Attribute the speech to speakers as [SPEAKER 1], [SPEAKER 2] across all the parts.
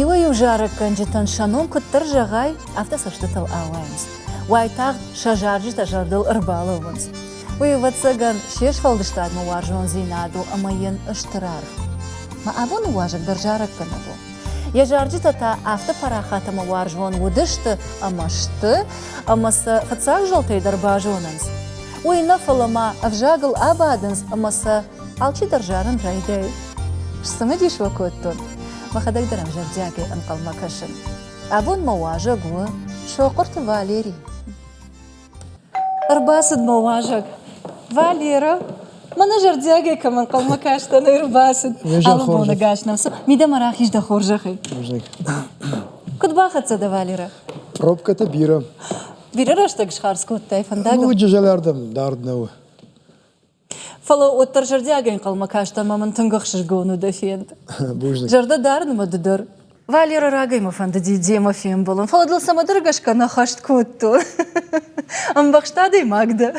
[SPEAKER 1] Иуӕй-иу зарӕггӕнджытӕн сӕ ном куыддӕр зӕгъай, афтӕ цӕстытыл ауайынц. Уайтагъд сӕ зарджытӕ зӕрдыл ӕрбалӕууынц. Уый, ӕвӕццӕгӕн, се сфӕлдыстадмӕ уарзондзинад у ӕмӕ йын стыр аргъ. Мӕ абоны уазӕг дӕр зарӕггӕнӕг у. Йӕ зарджытӕ та афтӕ парахат ӕмӕ уарзон уыдысты ӕмӕ сты, ӕмӕ сӕ фыццаг зӕлтӕй дӕр базонынц. Уый нӕ, фӕлӕ ма ӕвзагыл абадынц ӕмӕ сӕ Алчидӕр зарын райдайы. Цымыдис уӕ кодтон. Мӕхӕдӕг дӕр ӕм зӕрдиагӕй ӕнхъӕлмӕ кӕсын. Абон мӕ уазӕг у Сохъуырты Валери. Ӕрбацыд мӕ уазӕг. Валера, мӕнӕ зӕрдиагӕй кӕм ӕнхъӕлмӕ кастӕн, ӕрбацыд. Алы боны гас нӕм цы. Мидӕмӕ рахиз дӕ хорзӕхӕй. Куыд бахӕццӕ дӕ, Валера? Пробкӕтӕ бирӕ. Бирӕ рӕстӕг схардз кодтай фӕндагыл? Ну, ӕджы зӕлӕрдӕм дард нӕу. Фӕлӕ уӕддӕр зӕрдиагӕй ӕнхъӕлмӕ каст ӕмӕ мын тынг ӕхсызгон уыд фенд. Бузныг. Зӕрдӕ дарынмӕ ды дӕр. Валеры рагӕй мӕ фӕндыди демӕ фембӕлын, фӕлӕ дыл цӕмӕдӕр гӕсгӕ нӕ хӕст кодтон. Ӕмбӕхст адӕймаг дӕ.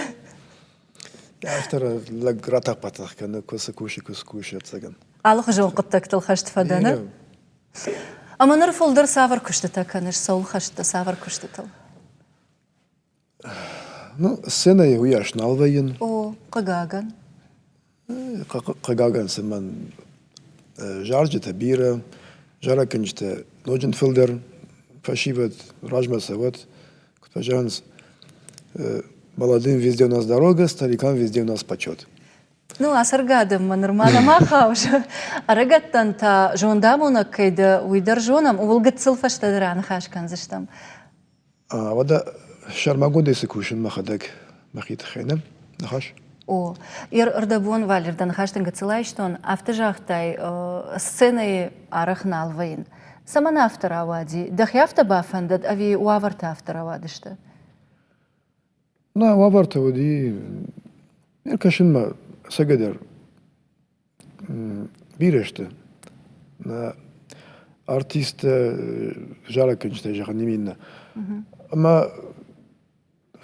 [SPEAKER 1] Автор лӕг ратӕх-батӕх кӕны, куы цы кусы, куы скусы, ӕцӕгӕн. Алыхуызон хъуыддӕгтыл хӕст фӕдӕ нӕ? Ӕмӕ ныр фылдӕр цавӕр куыстытӕ кӕныс? Цӕуыл хӕст дӕ цавӕр куыстытыл? Ну, сценӕйы уыйас нал вӕййын. О, хъыгагӕн. Хъыгагӕн цымӕн зарджытӕ бирӕ, зарӕггӕнджытӕ ноджын фылдӕр фӕсивӕд размӕ цӕуӕт, куыд фӕзӕгъынц, молодым везде у нас дорога, старикам везде у нас почет. Ну, ацӕргӕ адӕммӕ нырма нӕма хауыс. Ӕрыгӕттӕн та зондамонӕг кӕй дӕ, уый дӕр зонӕм, ууыл гыццыл фӕстӕдӕр аныхас кӕндзыстӕм. Уӕдӕ сӕрмагондӕй цы кусын мӕхӕдӕг мӕхи тыххӕй нӕ ныхас? О, йе рдӕбон Валер дӕ ныхӕстӕ гыццыл айстон, афтӕ загътай, сценӕйы арӕх нал вӕййын. Цӕмӕн афтӕ рауади? Дӕхи афтӕ бафӕндыд ӕви уавӕртӕ афтӕ рауадысты? Нӕ, уавӕртӕ уыди. Ӕркӕсынмӕ цӕгӕдӕр Бирӕ сты. Нӕ артисттӕ, зарӕггӕнджытӕй зӕгъӕн нӕм иннӕ. Ӕмӕ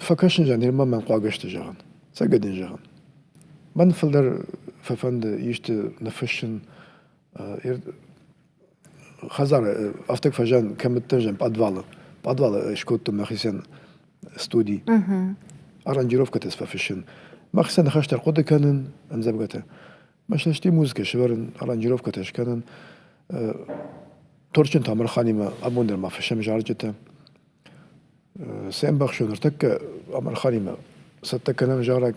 [SPEAKER 1] фӕкӕсын зӕгъын, нырма мӕн хъуагӕ сты зӕгъын. Цӕгат дын зӕгъын. Мӕн фылдӕр фӕфӕнды исты ныффыссын хӕдзары афтаг фӕзиан кӕмӕддӕр зиан подвалы подвалы скодтон мӕхицӕн студи аранжировкӕтӕ сфӕфыссын мӕхицӕн ныхӕстӕ ӕрхъуыды кӕнын ӕмдзӕвгӕтӕ мӕсӕсти музыкӕ сӕвӕрын аранжировкӕтӕ скӕнын торчын тамырханимӕ абон дӕр ма фыссӕм зарджытӕ се мбӕхсон ныртӕккӕ амырханимӕ цӕттӕ кӕнӕм зарӕг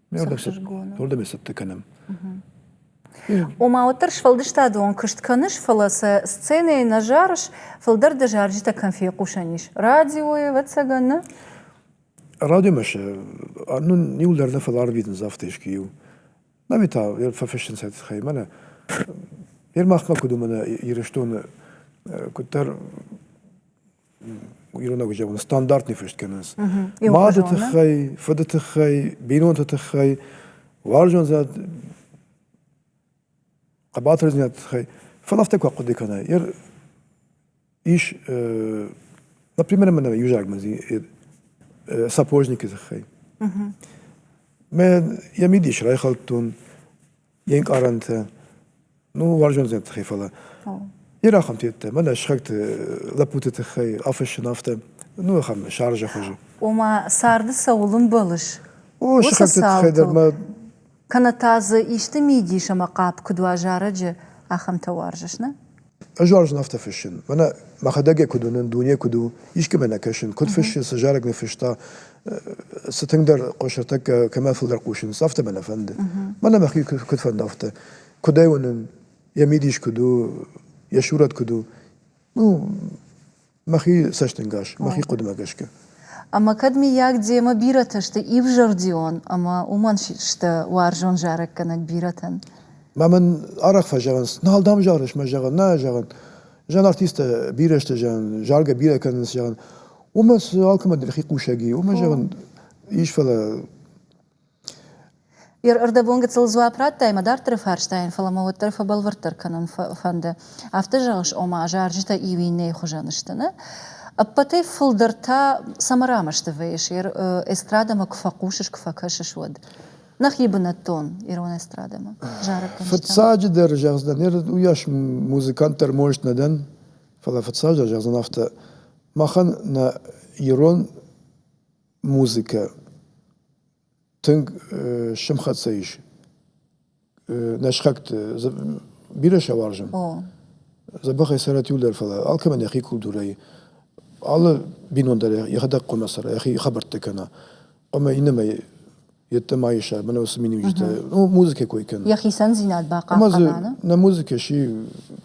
[SPEAKER 1] Уырдӕм цӕттӕ кӕнӕм. Ома, уӕддӕр сфӕлдыстадон куыст кӕныс, фӕлӕ сӕ сценӕйы нӕ зарыс, фылдӕр дӕ зарджытӕ кӕм фехъусӕн ис? Радиойы, ӕвӕццӕгӕн, нӕ? Радиомӕ сӕ ну иу дӕр нӕ фӕлӕ арвитынц афтӕ искуы иу. Ами та фӕфыссынц этой тыххӕй мӕнӕ. Ер махмӕ куыд у мӕнӕ Ирыстоны куыддӕр ирон ӕвзагыл стандартный фыст кӕнынц. Мады тыххӕй, фыды тыххӕй, бинонты тыххӕй, уарзондзинад, хъӕбатырдзинад тыххӕй. Фӕлӕ афтӕ куы ахъуыды кӕна, ер ис, например, мӕ юзагмӕ сапожникы тыххӕй. Мӕ йӕ мидис райхӕлдтон, Йе нкъарӕнтӕ, ну, уарзон дзӕнӕты тыххӕй, фӕлӕ йе рахӕмтӕ йедтӕ, мӕнӕ сыхӕгты, лӕппуты тыххӕй афыссын афтӕ, ну, ахӕм сӕрызӕ хуызы. Ома, царды цӕуыл ӕмбӕлыс? О, сыхӕгты тыххӕй дӕр мӕ. Кӕнӕ та дзы исты мидис ӕмӕ хъӕп куыд уа зарӕджы, ахӕмтӕ уарзыс, нӕ? Ӕз уарзын афтӕ фыссын. Мӕнӕ мӕхӕдӕг йӕ куыд уынын, дуне куыд у, искӕмӕ нӕ кӕсын, куыд фыссын, цы зарӕг нӕ фыста, цы тынгдӕр хъусыртӕккӕ кӕмӕ фылдӕр хъусынц, афтӕ мӕ нӕ фӕнды. Мӕнӕ мӕхи куыд фӕнды афтӕ. Куыд ӕй уынын, йӕ мидис куыд у, йӕ сурӕт куыд у. Ну, мӕхи цӕстӕнгас, мӕхи хъуыдымӕ гӕсгӕ. Ӕмӕ кӕд, миййаг, демӕ бирӕтӕ сты ивзӕрдион ӕмӕ уымӕн сты уарзон зарӕггӕнӕг бирӕтӕн? Ма мын арӕх фӕзӕгъынц, нал дӕм зарыс, мӕ зӕгъын, нӕ зӕгъын. Зӕн артисттӕ бирӕ сты, зӕгъын, заргӕ бирӕ кӕнынц, зӕгъын. Уымӕ цы алкӕмӕн дӕр хи хъусӕг и, уымӕ зӕгъын, ис, фӕлӕ Ӕрдӕбон гыццыл дзуапп радтай мӕ дарддӕры фарстайӕн, фӕлӕ мӕ уӕддӕр фӕбӕлвырддӕр кӕнын фӕнды. Афтӕ зӕгъыс, ома зарджытӕ иу иннӕйы хуызӕн сты, нӕ? Ӕппӕтӕй фылдӕр та цӕмӕ рамӕсты вӕййыс, эстрадӕмӕ куы фӕхъусыс, куы фӕкӕсыс, уӕд? Нӕхи бынӕттон ирон эстрадӕмӕ зарӕггӕнджытӕм. Фыццаджыдӕр зӕгъдзынӕн, уыйас музыкант дӕр мост нӕ дӕн, фӕлӕ фыццаджыдӕр зӕгъдзынӕн афтӕ, махӕн нӕ ирон музыкӕ тынг сымхӕццӕ ис. Нӕ схӕгты бирӕ сӕ уарзын. Дзӕбӕх ӕй цӕрӕт иу дӕр, фӕлӕ алкӕмӕн йӕхи культурӕйы алы бинон дӕр йӕхӕдӕг хъуамӕ цӕра, йӕхи хабӕрттӕ кӕна. Ӕмӕ иннӕмӕй йеддӕмӕ ис ӕмӕ носы миниуджытӕ, ну, музыкӕ кой кӕны. Йӕ хицӕндзинад бахъахъхъӕна? Нӕ музыкӕ сси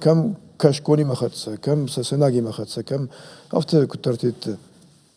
[SPEAKER 1] кӕм кӕсгонимӕ хӕццӕ, кӕм сӕ сӕнагимӕ хӕццӕ, кӕм афтӕ куыддӕр тетты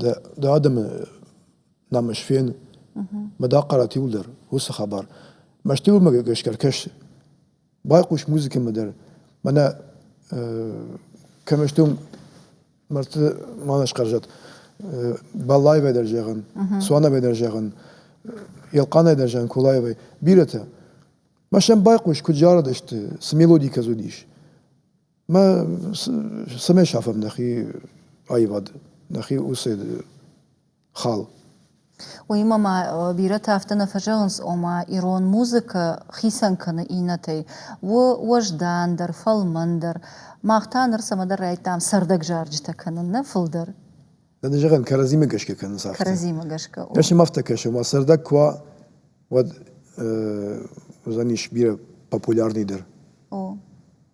[SPEAKER 1] Дӕ адӕмы намыс фен, ӕмӕ дӕ хъарат иуылдӕр, уыцы хабар. Мӕстыйыл-мӕ гӕсгӕ ӕркӕс, байхъус музыкӕмӕ дӕр. Мӕнӕ кӕмӕ сты уым мӕрдты ма нӕ схъӕрзӕд. Баллаевӕй дӕр зӕгъын, Суановӕй дӕр зӕгъын, Елхъанӕй дӕр зӕгъын, Кулаевӕй. Бирӕтӕ. Ма сӕм байхъус, куыд зарыдысты, цы мелоди кӕдз уыдис. Мӕ цӕмӕй сафӕм нӕхи аивад, нӕхи уыцы хал? Уыимӕ ма бирӕтӕ афтӕ нӕ фӕзӕгъынц, ома ирон музыкӕ хицӕн кӕны иннӕтӕй. У уӕздандӕр, фӕлмӕндӕр. Мах та ныр цӕмӕдӕр райдтам цӕрдӕг зарджытӕ кӕнын, нӕ фылдӕр. Нӕ зӕгъӕм, кӕрӕдзимӕ гӕсгӕ кӕнынц афтӕ. Кӕрӕдзимӕ гӕсгӕ. Кӕсӕм, афтӕ кӕсӕм, уа цӕрдӕг куы уа, уӕд уыдзӕнис бирӕ популярныйдӕр. О.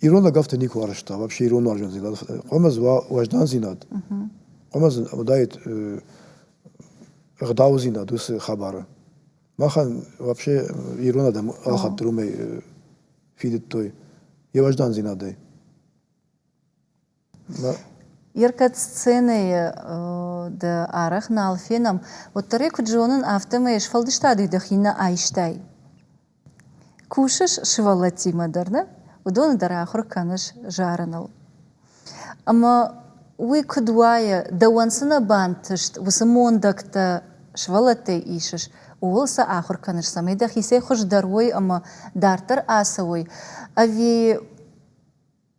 [SPEAKER 1] Ирон ӕгӕвты никуы арӕзта, вообще ирон уарзондзинад. Хъуамӕ уа уӕздандзинад, хъуамӕ дзы уыдаид ӕгъдаудзинад уыцы хабары. Махӕн вообще ирон адӕм алхатт уымӕй фидыдтой йӕ уӕздандзинадӕй. Йе ркӕд сценӕйы дӕ арӕх нал фенӕм, уӕддӕр ӕй куыд зонын, афтӕмӕй сфӕлдыстади дӕхи нӕ айстай. Кусыс сывӕллӕттимӕ дӕр, нӕ? Уыдоны дӕр ахуыр кӕныс зарыныл. Ӕмӕ уый куыд уайы, дӕуӕн цы нӕ бантыст, уыцы мондӕгтӕ сывӕллӕттӕй исыс, ууыл сӕ ахуыр кӕныс, цӕмӕй дӕхицӕй хуыздӕр уой ӕмӕ дарддӕр ацӕуой? Ӕви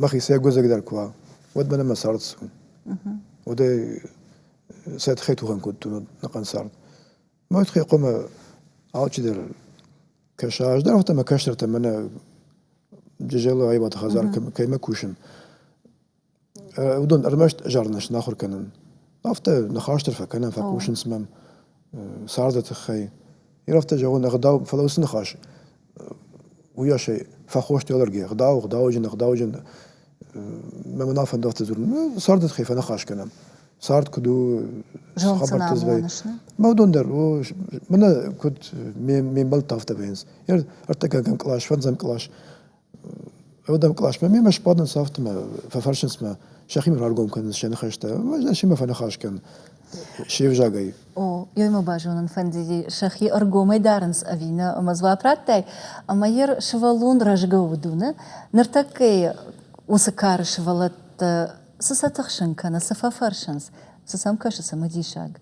[SPEAKER 1] мӕхи сӕ гуӕдзӕгдӕр куа, уӕд мӕнӕ мӕ цард цуан. Уӕдӕй сӕ тхӕй тухӕн кодтон нӕхъӕн цард. Мӕ тхӕй хъумӕ алчидӕр кӕса, ӕз дӕр ӕмӕ кӕстӕртӕ мӕнӕ джызӕлы аивады хӕдзар кӕимӕ кусын, уыдон ӕрмӕст зарынӕ снахуыр кӕнын. Афтӕ ныхас дӕр фӕкӕнӕм, фӕхъусынц мӕм царды тыххӕй. Ирӕфтӕ зӕгъы нӕ гъдау, фӕлӕ уыцы ныхас уыйасӕй фӕхост алӕрги, гъдау, гъдауджын, гъдауджын. Мӕм нал фӕндӕгты дзурын, цард дын хай фӕныхас кӕнӕм. Цард куыд у, хабӕртты звӕй. Мӕ уыдон дӕр, о, мӕнӕ куыд ме мбӕлтты афтӕ вӕййынц. Ӕртӕгӕгӕн кълас, фӕндзӕм кълас, уӕдӕм къласмӕ мемӕ сбадынц афтӕ мӕ фӕфӕрсынц мӕ сӕхимӕ раргом кӕнынц сӕ ныхӕстӕ ӕз семӕ фӕныхас кӕн се взагӕй О, йой ма базонын фӕндыди, сӕхи ӕргомӕй дарынц ӕви нӕ ӕмӕ дзуапп радтай, ӕмӕ йӕ сывӕллон рӕзгӕ уыдуны, ныртӕккӕйы уыцы кары сывӕллӕттӕ цы сӕ тыхсын кӕны, цы фӕфӕрсынц, цы сӕм кӕсы цымыдисаг?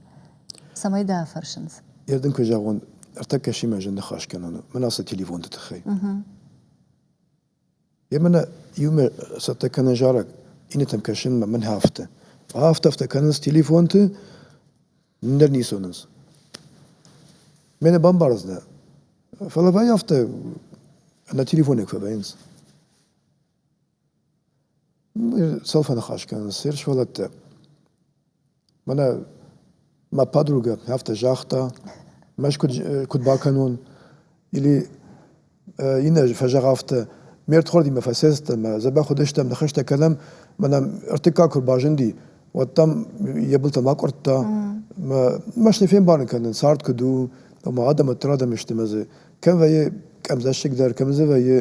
[SPEAKER 1] Цӕмӕй дӕ фӕрсынц? Я дын куы зӕгъон, ӕртӕккӕ симӕ зын ныхас кӕнон у. Мӕн ацы телефонты тыххӕй. Йе мӕнӕ иумӕ цӕттӕ кӕнын зарӕг, иннӕтӕм кӕсынмӕ мын афтӕ. Афтӕ-афтӕ кӕнынц телефонты, ныр ницы уынынц. Мӕнӕ бамбарынц нӕ. Фӕлӕ вӕй афтӕ на телефонӕй куы вӕййынц. Цал фӕныхас кӕнын, се рсхвӕлӕттӕ. Мӕнӕ мӕ подругӕ афтӕ загъта, мӕс куыд куыд бакӕнон, или иннӕ фӕзӕгъ афтӕ: ме рдхуардимӕ фӕсӕддӕн мӕ дзӕбӕх уыдыстӕм, ныхӕстӕ кӕнӕм, мӕнӕ ӕртыккаг куы рбазынди, уӕд дӕм йӕ былтӕм акъуырдта. Мӕ мӕс не фембарын кӕнын, цард куыд у, ӕмӕ адӕм ӕддӕр адӕм сты мӕ дзы. кӕм вӕййы къӕбдзӕссыгдӕр, кӕм дзы вӕййы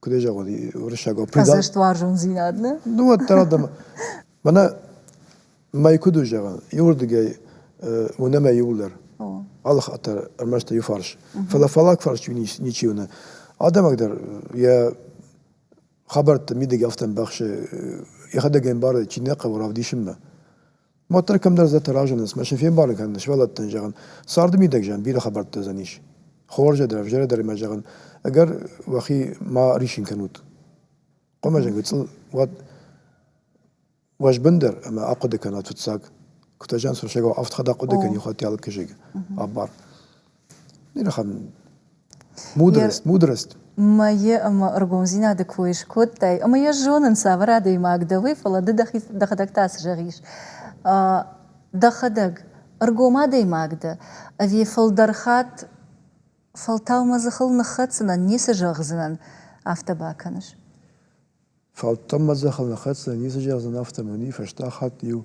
[SPEAKER 1] куыд зӕгъон, уырыссагау. Хӕдзӕстуарзондзинад, нӕ? Ну, уӕддӕр адӕм. Мӕнӕ мӕй куыд у зӕгъӕн, иуырдыгӕй уынӕ мӕ иуылдӕр. Алы хатт дӕр ӕрмӕст иу фарс. Фӕлӕ фалаг фарсчы ничи уыны. Адӕмӕг дӕр йӕ хабӕртты мидӕг афтӕ ӕмбӕхсы, йӕхӕдӕг ӕмбары, чи нӕ хъӕуы равдисынмӕ. уӕддӕр кӕмдӕр зӕдтӕ разынынц мӕ сӕ фембарын кӕнын сывӕллӕттӕн зӕгъын царды мидӕгзӕн бирӕ хабӕрттӕ уыдзӕнис хорзӕ дӕр ӕвзӕрӕ дӕр мӕ зӕгъын ӕгӕр уӕхи ма рисин кӕнут хъуымӕзӕг гыцъыл уӕд уӕзбындӕр ӕмӕ ахъуыды кӕнат фыццаг куы та зӕгъынц фӕрсӕгау авд хатт ахъуыды кӕн иухатт алкӕзӕг абар мудрость мудрость мӕйы ӕмӕ ӕргомдзинады кой скодтай ӕмӕ йӕ зонын цавӕр адӕймаг дӕ уый фӕлӕ ды дӕхи дӕхӕдӕг та цы зӕгъис дӕхӕдӕг ӕргом адӕймаг дӕ ӕви фылдӕр хатт фӕлтау мӕ дзыхыл ныххӕцынӕн ницы зӕгъдзынӕн афтӕ бакӕныс фӕлтау мӕ дзыхыл ныххӕцынӕн ницы зӕгъдзынӕн афтӕ мӕ уый фӕстаг хатт иу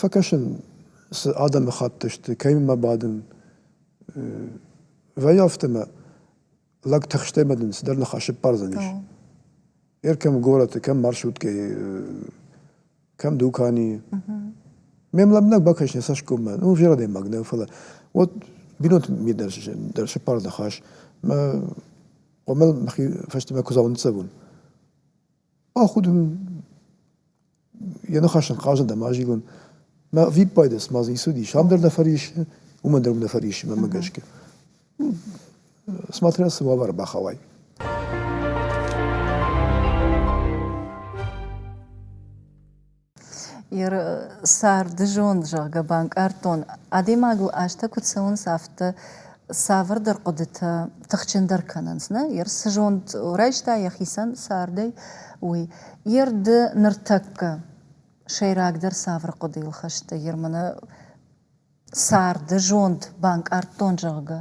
[SPEAKER 1] Фӕкӕсын, цы адӕмыхатт сты, кӕимӕ бадын. Вӕййы афтӕ ӕмӕ лӕг тыхстӕй бадын цыдӕр ныхасы ппардзӕн ис. Ер кӕм горӕты, кӕм маршруткӕйы, кӕм дуканийы. Ме млӕмбынӕг бакӕс нӕ цӕсгоммӕ, ну ӕвзӕр адӕймаг нӕ, фӕлӕ вот бинонты ми дӕр дӕр сӕппар ныхас. Мӕ хъомыл мӕхи фӕстӕмӕ куыдзау ныццӕвон. Ахуыд ын йӕ ныхас ын хъазыд ӕмӕ азилын. Мӕ ӕвиппайды цыма дзы ицыдис, ам дӕр дӕ фӕриссы, уымӕн дӕр уым дӕ фӕриссы, мӕнмӕ гӕсгӕ. Смотря цы уавӕры бахауай. Царды зонд, зӕгъгӕ, банкъардтон, адӕймагыл азтӕ куы цӕуынц, афтӕ цавӕрдӕр хъуыдытӕ тыхджындӕр кӕнынц, нӕ? Йе р цы зонд райста йӕхицӕн цардӕй, уый. Йе рды ныртӕккӕ сӕйрагдӕр цавӕр хъуыдыйыл хӕсты? Йе рмӕ нӕ царды зонд банкъардтон, зӕгъгӕ?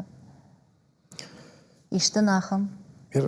[SPEAKER 1] Исты ын ахӕм? Йе р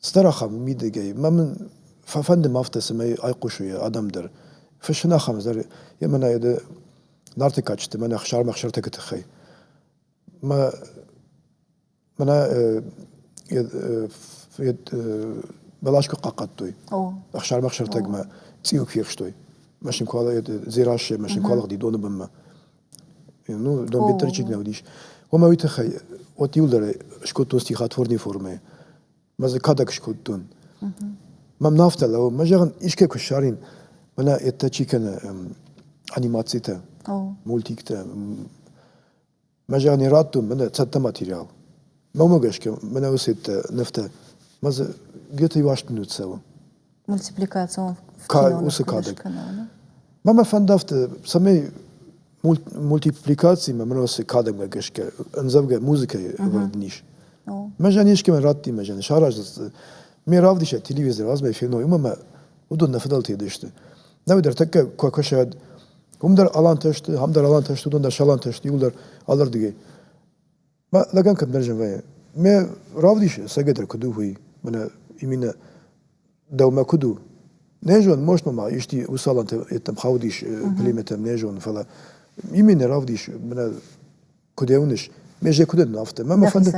[SPEAKER 1] Стыр ахӕм мидӕгӕй. Мӕ мын фӕфӕндым афтӕ, цӕмӕй айхъусой адӕм дӕр. Фыссын ахӕм дӕр, йемӕ нӕ йӕ нарты кадджыты мӕнӕ сӕрмӕхсӕртӕгы тыххӕй. Мӕ мӕнӕ бӕлас куы хъахъхъӕдтой сӕрмӕхсӕртӕгмӕ, цъиу куы фехстой, машинкуалӕ Дзерассӕйы машинкуалыгъди доны бынмӕ. Ну, донбеттӕрчик нӕ уыдис. Омӕ уый тыххӕй от иуылдӕр скодтон стихотворной формӕ. Ӕмӕ дзы кадӕг скодтон. Мӕм нӕ афтӕ лӕууы. Мӕ зӕгъын, искӕй куы ссарын, мӕнӕ это чи кӕны анимацитӕ, мультиктӕ. Мӕ зӕгъын, радтон мӕнӕ цӕттӕ материал. Мӕ уымӕ гӕсгӕ мӕнӕ уыцы это нывтӕ. Мӕ дзы где-то иу астын уыд цӕуы. мультипликацион каналы, уыцы кадӕг. Мӕ мӕ фӕндӕвты, цӕмӕй мультипликацимӕ мын уыцы кадӕгмӕ гӕсгӕ ӕндзӕвгӕ музыкӕйы ӕвӕрд не ис. Мӕзӕн искӕмӕн радти мӕзӕн, сараздзысты. Ме равдисӕг телевизор азмӕ феной, уымӕ мӕ уыдон нӕ фыдӕлтӕ сты. Науи дӕр тӕккӕ куы акӕсӕд, уым дӕр алантӕ сты, ам дӕр алантӕ сты, уыдон дӕр сӕ алантӕ сты, иуыл дӕр алырдыгӕй. Ма лӕгӕн кӕддӕр зӕвӕйы. Ме равдис сӕгӕдӕр куыд у, уый, мӕнӕ иминӕ дӕумӕ куыд у? Нӕ зон, most ма исти уыцы алантӕ йеддӕм хаудис племятӕм, нӕ зон, фӕлӕ ими не равдис, мӕнӕ куыд уыныс, ме зӕ куыд ӕдын афтӕ. Мӕ фӕнды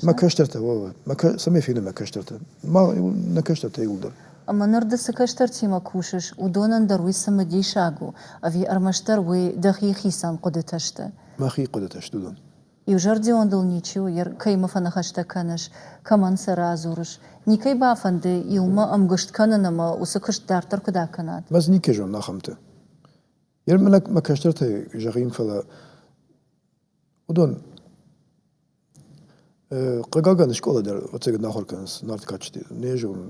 [SPEAKER 1] мӕ кӕстӕртӕ уӕвы, мӕ цӕмӕй фены мӕ кӕстӕртӕ. Ма нӕ кӕстӕртӕ иуылдӕр. Ӕмӕ ныр ды цы кӕстӕртимӕ кусыс, уыдонӕн дӕр уый цымыдисаг у, ӕви ӕрмӕстдӕр уый дӕхи хицӕн хъуыдытӕ сты? Мӕхи хъуыдытӕ сты уыдон. Иузӕрдион дыл ничи у, кӕимӕ фӕныхӕстӕ кӕныс, кӕмӕн сӕ радзурыс, никӕй бафӕнды иумӕ ӕмгуыст кӕнын ӕмӕ уыцы куыст дарддӕр куыд акӕнат? Ӕз никӕй зонын ахӕмты. Йе мӕлӕт мӕ кӕстӕртӕй зӕгъин, фӕлӕ уыдон хъыгагӕн скъола дӕр ӕцӕгӕд нӕ ахуыр кӕнынц нард кадджыты. Не зонын,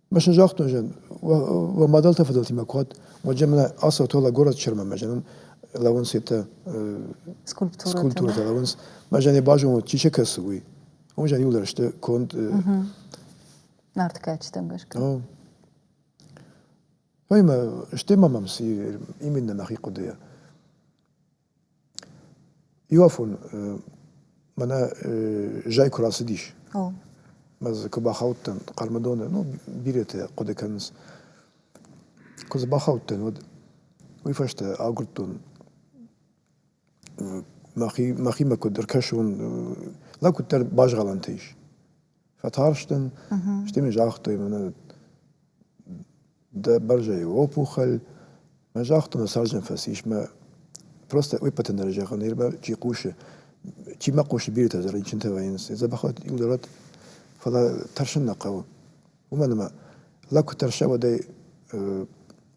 [SPEAKER 1] Ма сын загътон, зӕгъ, уӕ мадӕлтӕ фыдӕлтимӕ куӕд, уӕдӕ мӕ ацӕуы то лӕ горӕт Чермӕмӕ, зӕгъын, лӕууынц этӕ скульптурӕтӕ, лӕууынц, ма зӕ не базонут, чи се кӕсы, уый. Уым зӕниуылдӕр сты конд. Нартыкӕчытӕм гӕсгӕ. Ой мӕ, стӕй ма мӕм цы именно мӕхи хъуыдыйӕ. Иуафон мӕнӕ зӕй куы рацыдис. О. Ӕз куы бахаудтӕн Хъӕрмӕдоны, ну, бирӕтӕ хъуыды кӕнынц. Куы дзы бахаудтӕн, уӕд уый фӕстӕ агуырдтон мӕхи, мӕхимӕ куыд ӕркӕсон. Лӕг куыддӕр базгъӕлӕнтӕ ис. фӕтарстӕн, стӕй мын загътой мӕнӕ дӕ бӕрзӕйы опухоль. Мӕ загътон, сержан фӕцис мӕ просто уппӕты дӕр зӕгъын, нырма чи хъусы, чи ма хъусы бирӕтӕ дӕр рынчынтӕ вӕййынц, дзӕбӕхат иу дӕрат, фӕлӕ тӕрсын нӕ хъӕуы. Уымӕн ӕмӕ лӕг куы тӕрса, уӕд ӕй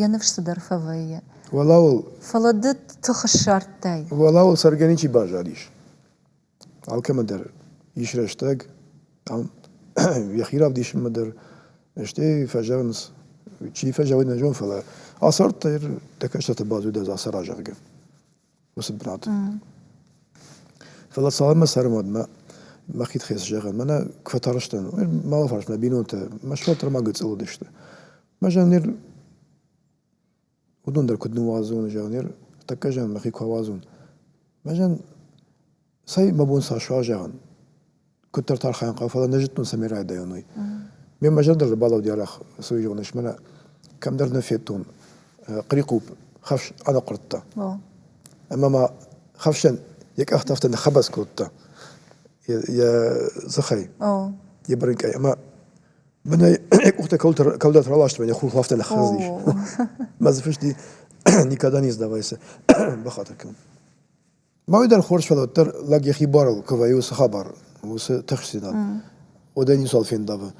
[SPEAKER 1] Йӕ ныфс цыдӕр фӕвӕййы. Уӕлӕуыл. Фӕлӕ ды тых ссардтай. Уӕлӕуыл цӕргӕ ничи баззадис. Алкӕмӕ дӕр ис рӕстӕг, ам йӕхи равдисынмӕ дӕр, стӕй фӕзӕгъынц, чи фӕзӕгъы, нӕ зон, фӕлӕ ацардтӕ, дӕ кӕстӕртӕ баззад ӕз аца, зӕгъгӕ. уыцы бынаты. Фӕлӕ цалынмӕ цӕрын уӕд, мӕ мӕхи тыххӕй цы зӕгъын, мӕнӕ куы фӕтарстӕн, малы фарс мӕ бинонтӕ мӕ сфӕлддӕр ма гыцъыл уыдысты. Мӕ зӕгъын, ныр уыдон дӕр куыд ныууадзон, зӕгъын, ныр тӕккӕ зӕгъын, мӕхи куы ауадзон. Мӕ зӕгъын, Цӕй, мӕ бон сӕ суа, зӕгъӕн. Куыддӕр та архайын хъӕуы, фӕлӕ нӕ зыдтон, цӕмӕй райдайон, уый. Ме мӕ зӕрдӕ ӕрбалӕуыд арӕх цӕуй зӕгъынӕш, мӕнӕ кӕмдӕр нӕ федтон хърихъупп, хӕфс аныхъуырдта. Ӕмӕ ма хӕфсӕн йӕ къӕхтӕ афтӕ ныххӕбӕц кодта йӕ дзыхӕй, йӕ бырынкъӕй. Ӕмӕ мӕнӕ йӕ къухтӕ кӕуылдӕр раластой, йӕ хурхыл афтӕ ныххӕрзис. Мӕ дзы фыст и «Никогда не сдавайся». Бахатыр кӕн. Мӕ уый дӕр хорз фӕлӕуд дӕр лӕг йӕхи барыл куы вӕййы уыцы хабар, уыцы тыхстдзинад. Уӕдӕ ницуал фендавы.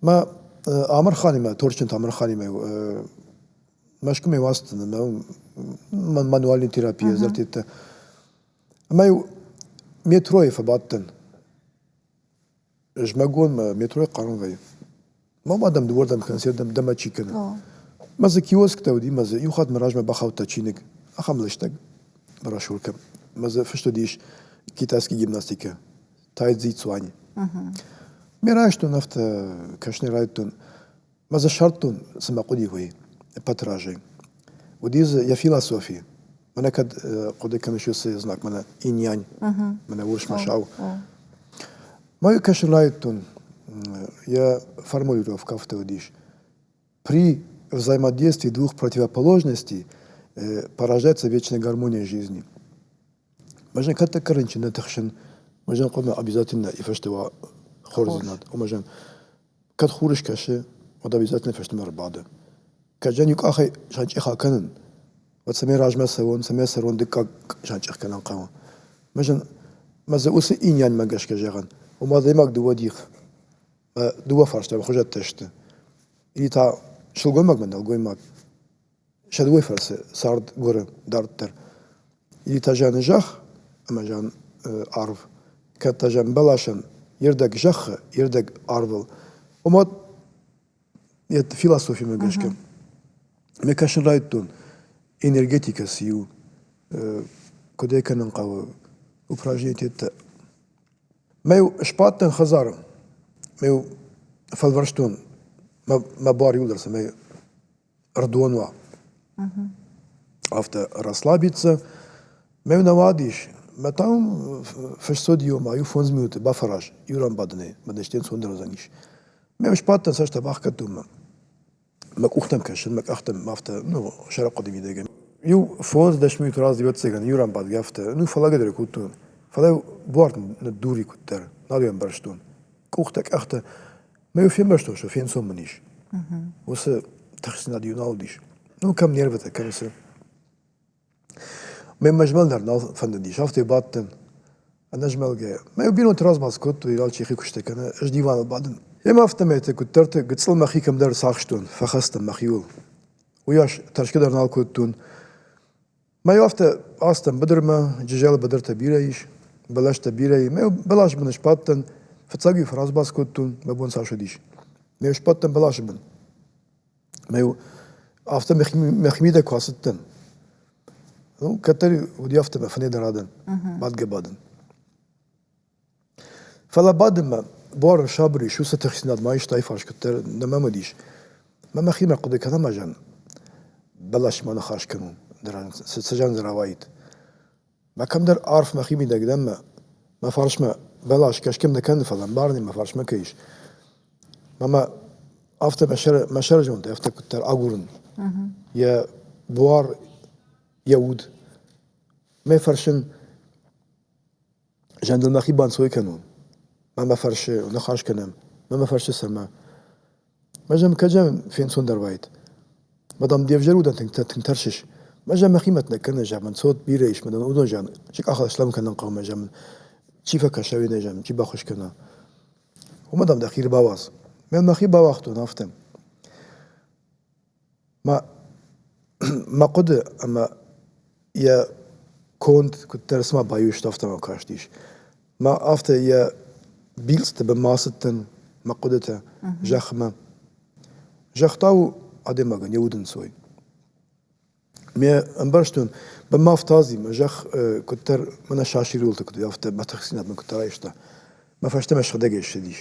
[SPEAKER 1] Мӕ Амырханимӕ, Торчынты Амырханимӕ Мӕскуымӕ уацты мӕ мануальной терапийӕ дзырдтытӕ. Ӕмӕ-иу метройы фӕбадтӕн. Зымӕгонмӕ метройы хъарм вӕййы. Ма ма дӕм дыууӕрдӕм кӕнӕ сӕрдӕм дӕмӕ чи кӕны. Мӕ дзы киосктӕ уыди, мӕ дзы иу хатт мӕ размӕ бахаудта чиныг, ахӕм лыстӕг брошюркӕ. Мӕ дзы фыст уыдис китайский гимнастикӕ, Тай Цзи Цуань. Ме райстон афтӕ, кӕсынӕй райдыдтон. Мӕ дзы ссардтон, цы мӕ хъуыди, уый, ӕппӕты разӕй. Уыди дзы йӕ философи. Мӕнӕ кӕд хъуыды кӕныс уыцы знаг, мӕнӕ иньянь, мӕнӕ Урсмӕсау. Мӕ йӕ кӕсын райдыдтон, йӕ формулировкӕ афтӕ уыдис. При взаимодействии двух противоположностей порождается вечная гармония жизни. Мы же как-то корынчын нӕ тыхсын, мы же хъуамӕ обязательно и фӕстӕ уа хордзинад. Ома же кӕд хур скӕсы, уӕд обязательно фӕстӕмӕ ӕрбады. Кӕд зӕн иу къахӕй санчъех акӕнын, уӕд цӕмӕй размӕ цӕуон, цӕмӕй цӕрон дыккаг санчъех кӕнын хъӕуы. Мы зын мӕ дзы уыцы инӕнмӕ гӕсгӕ зӕгъын, ома адӕймаг дыууӕ дих, дыууӕ фарстайы хуызӕттӕ сты. И та сылгоймагмӕ нӕлгоймаг Сӕ дыууӕ фӕрцы цард гуыры дарддӕр. Итажӕны зӕхх ӕмӕ зӕн арв. Кӕд та зӕн бӕласӕн йе рдӕг зӕххы, йе рдӕг арвыл. Ома йӕ философимӕ гӕсгӕ ме кӕсын райдтон энергетикӕ цы у, куыд ӕй кӕнын хъӕуы, упражнениетӕ. Мӕ-иу сбадтӕн хӕдзары, мӕ-иу фӕлвӕрстон мӕ бар иуылдӕр цӕмӕй Ӕрдон уа. Афтӕ расслабиться. Ме нӕмад ис, мӕ та уым фысцод иу ӕмӕ иу фондз минуты бафӕраз иу ран бадынӕй, мӕнӕ стен цонды рӕдзӕнис. Ме сбадтӕн цӕстӕ бахгӕдтон мӕ мӕ къухтӕм кӕсын, мӕ къӕхтӕм афтӕ, ну, сӕрапхъуыды мидӕгӕй. Иу фондз дӕс минуты раз дыгӕццӕгӕн иу ран бадгӕ афтӕ, ну, фӕлӕгӕдӕр кодтон. Фӕлӕ буар ныддури куыддӕр, нал ӕмбӕрстон. Къухтӕ, къӕхтӕ Мӕ йыл фембӕрстон, что фенцон мын ис. Уыцы тыхстдзинад иу нал уыдис. Ну, кӕм нервытӕ кӕнысы. Мемӕ змӕлын дӕр нал фӕндыдис, афтӕ бадтӕн. Ӕнӕзмӕлгӕйӕ. Мӕ бинонты размӕ кодтой, алчи хи куыстӕ кӕны, ӕз диваныл бадын. Йемӕ афтӕмӕйты куыддӕрты гыццыл мӕхи кӕмдӕр сахстон, фӕхастӕн мӕхиуыл. Уыйас тӕрсгӕ дӕр нал кодтон. Мӕйо афтӕ ацыдтӕн быдырмӕ, джызӕлы быдыртӕ бирӕ ис, бӕлӕстӕ бирӕ и. Мӕ бӕлас бын сбадтӕн, фыццаг-иу фӕрӕзбац кодтон, мӕ бон цас уыдис. Ме сбадтӕн бӕласы бын. Мӕ-иу афтӕ мӕхимидӕг куы ацыдтӕн, ну, кӕддӕр уыди афтӕ мӕ фынӕй дӕр адӕн, бадгӕ бадын. Фӕлӕ бады мӕ, буары сабыр ис, уыцы тыхстдзинад ма истӕй фарс кӕддӕр нӕ мӕмыдис. Мӕ мӕхимӕ хъуыды кӕнӕм ӕз ӕн? Бӕласмӕ ныхас кӕнон, ды ра- цы цӕзӕн дзы рауаид. Мӕ кӕмдӕр арф мӕхи мидӕг дӕн мӕ, мӕ фарсмӕ бӕлас кӕсгӕм нӕ кӕны, фӕлӕ ӕмбарынӕй мӕ фарсмӕ кӕй ис. Мӕ мӕ афтӕ мӕ сӕр, мӕ сӕрызондӕй афтӕ куыддӕр агурын йӕ буар, йӕ уд. Мӕ фӕрсын, Зӕндыл мӕхи банцой кӕнон. Ма мӕ фӕрсы, ныхас кӕнӕм, ма мӕ фӕрсы цӕмӕ. Ӕмӕ зӕм кӕд зӕм фенцондӕр уаид. Ӕмӕ дам де взӕр удӕн тынг тынг тӕрсыс. Ӕмӕ зӕм мӕхи мӕт нӕ кӕныс, зӕгъ мын цот бирӕ ис, ӕмӕ дам уыдон зӕгъын, чи къахыл слӕм кӕнын хъӕуы, зӕгъ мын чи фӕкӕса уенӕй, зӕгъ, чи баххуыс кӕна. Уымӕ дам дӕхи ӕрбауадз. Мӕн мӕхи бауагътон афтӕ. Мӕ мӕ хъуыды ӕмӕ йӕ конд куыддӕр цыма баиу сты, афтӕ мӕм кастис. Мӕ афтӕ йӕ билцъыты бынмӕ ацыдтӕн, мӕ хъуыдытӕ зӕхмӕ. Загъта у адӕймагӕн йӕ удӕнцой. Ме ӕмбӕрстон, бынмӕ афтази, мӕ зӕхх куыддӕр мӕнӕ сасир уылты куыд у, афтӕ бӕтӕхдзинад мын куыддӕр айста. Мӕ фӕстӕмӕ сыгъдӕгӕй ссыдис.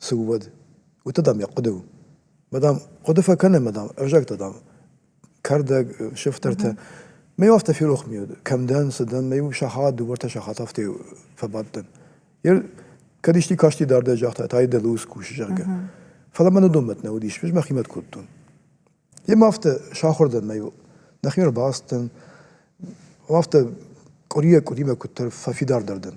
[SPEAKER 1] цы у, уӕд. Уыты, дам, йӕ хъуыды у. Ма, дам, хъуыды фӕкӕнӕм, ма, дам, ӕвзӕгтӕ, дам, кӕрдӕг, сыфтӕртӕ. Мӕ афтӕ ферох ми уыд, кӕм дӕн, цы дӕн, мӕ иу сахат, дыууӕртӕ сахат афтӕ фӕбадтӕн. Йе кӕд исти касти дардӕй загъта, та дӕ луз кусы, зӕгъгӕ. Фӕлӕ мӕн уыдонмӕт нӕ уыдис, ӕз мӕхимӕт кодтон. Йемӕ афтӕ сахуыр дӕн, мӕ иу. Нӕхи ӕрбацыдтӕн, афтӕ къуырийӕ къуыримӕ куыддӕр фӕфидардӕр дӕн.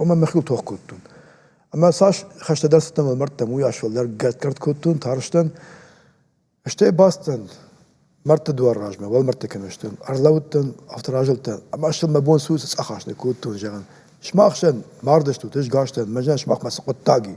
[SPEAKER 1] ома мӕхи тох кодтон. Ӕмӕ цас хӕстӕдӕр цыдтӕн мӕлмӕрдтӕм, уый ас-фӕлдӕр гӕртгӕрт кодтон, тарстӕн. Стӕй бацыдтӕн мӕрдты дуар размӕ, уӕлмӕрдты кӕмӕ сдӕн, ӕрлӕудтӕн, афтӕ разылдтӕн, ӕмӕ стыл мӕ бон цы у, цы цъӕх ас нӕ кодтон, зӕгъын. Сымахсӕн мардӕстут, ӕз гӕстӕн, мӕнӕн сымах мӕ цы хъуыддаг и?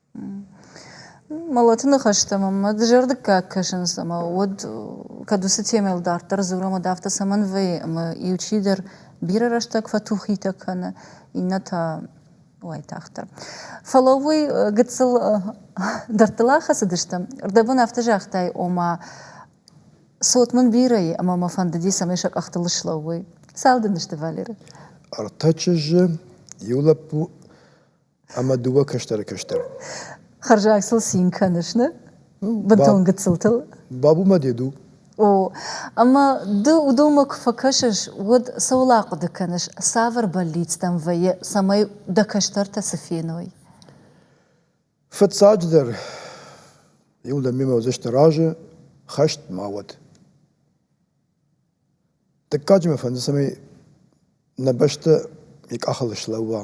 [SPEAKER 1] Мӕлӕты ныхӕстӕ мӕмӕ дызӕрдыггаг кӕсынц ӕмӕ уӕд кӕд уыцы темӕйыл дарддӕр дзурӕм, уӕд афтӕ цӕмӕн вӕййы, ӕмӕ иу чидӕр бирӕ рӕстӕг фӕтухитӕ кӕны, иннӕ та уайтагъддӕр. Фӕлӕ уый гыццыл дӕрдтыл ахӕцыдыстӕм. Ӕрдӕбон афтӕ загътай, ома цот мын бирӕ и, ӕмӕ мӕ фӕндыди, цӕмӕй сӕ къӕхтыл ыслӕууой. Цау дын сты, Валеры? Ӕртӕ чызджы, иу лӕппу ӕмӕ дыууӕ кӕстӕры кӕстӕр. Хӕрзаг сыл цин кӕныс, не? Бынтон гыццылтыл. Бабумӕ дед у. О, ӕмӕ ды уыдонмӕ куы фӕкӕсыс, уӕд цӕуыл ахъуыды кӕныс, цавӕр бӕллицтӕм вӕййы, цӕмӕй дӕ кӕстӕртӕ цы феной? Фыццаджыдӕр, иу лӕм мемӕ уыдзысты разы, хӕст ма уӕд. Дыккаджы мӕ фӕнды, цӕмӕй нӕ бӕстӕ йӕ къахыл слӕууа.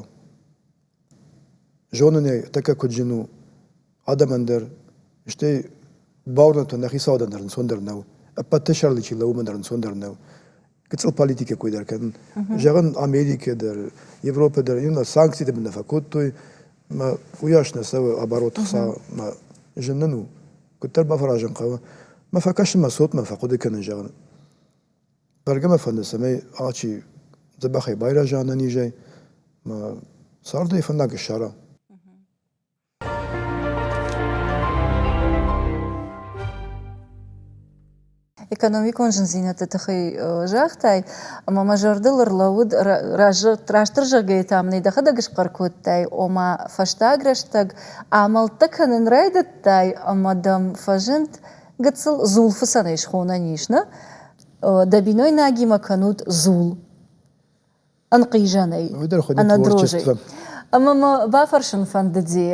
[SPEAKER 1] Зонын ӕй тӕккӕ куыд зын у адӕмӕн дӕр, стӕй бауырнӕдтон, нӕ хицауадӕн дӕр ӕнцондӕр нӕу, ӕппӕты сӕрыл чи лӕууы, уымӕн дӕр ӕнцондӕр нӕу гыццыл политикӕ кой дӕр кӕнын. Зӕгъын, Америкӕ дӕр, Европӕ дӕр иннӕ санкцитӕ нӕ фӕкодтой, мӕ уыйас нӕ цӕуы оборот хца, мӕ зын нын у Куыддӕр бафӕразын хъӕуы, мӕ фӕкӕсын мӕ цотмӕ фӕхъуыды кӕнын, зӕгъын. Бӕргӕ мӕ фӕнды, цӕмӕй алчи дзӕбӕхӕй байрӕза нӕ низӕй, мӕ царды фӕндаг ссара. экономикон зындзинӕдты тыххӕй загътай, ӕмӕ мӕ зӕрдыл ӕрлӕууыд, растдӕр зӕгъгӕйӕ та мын ӕй дӕхӕдӕг схъӕр кодтай, ома фӕстаг рӕстӕг амӕлттӕ кӕнын райдыдтай ӕмӕ дӕм фӕзынд гыццыл дзулфыцӕнӕй схонӕн ис, нӕ? Дӕ бинойнагимӕ кӕнут дзул. ӕнхъизӕнӕй ӕнӕ дрожӕй. Ӕмӕ мӕ бафӕрсын фӕндыди,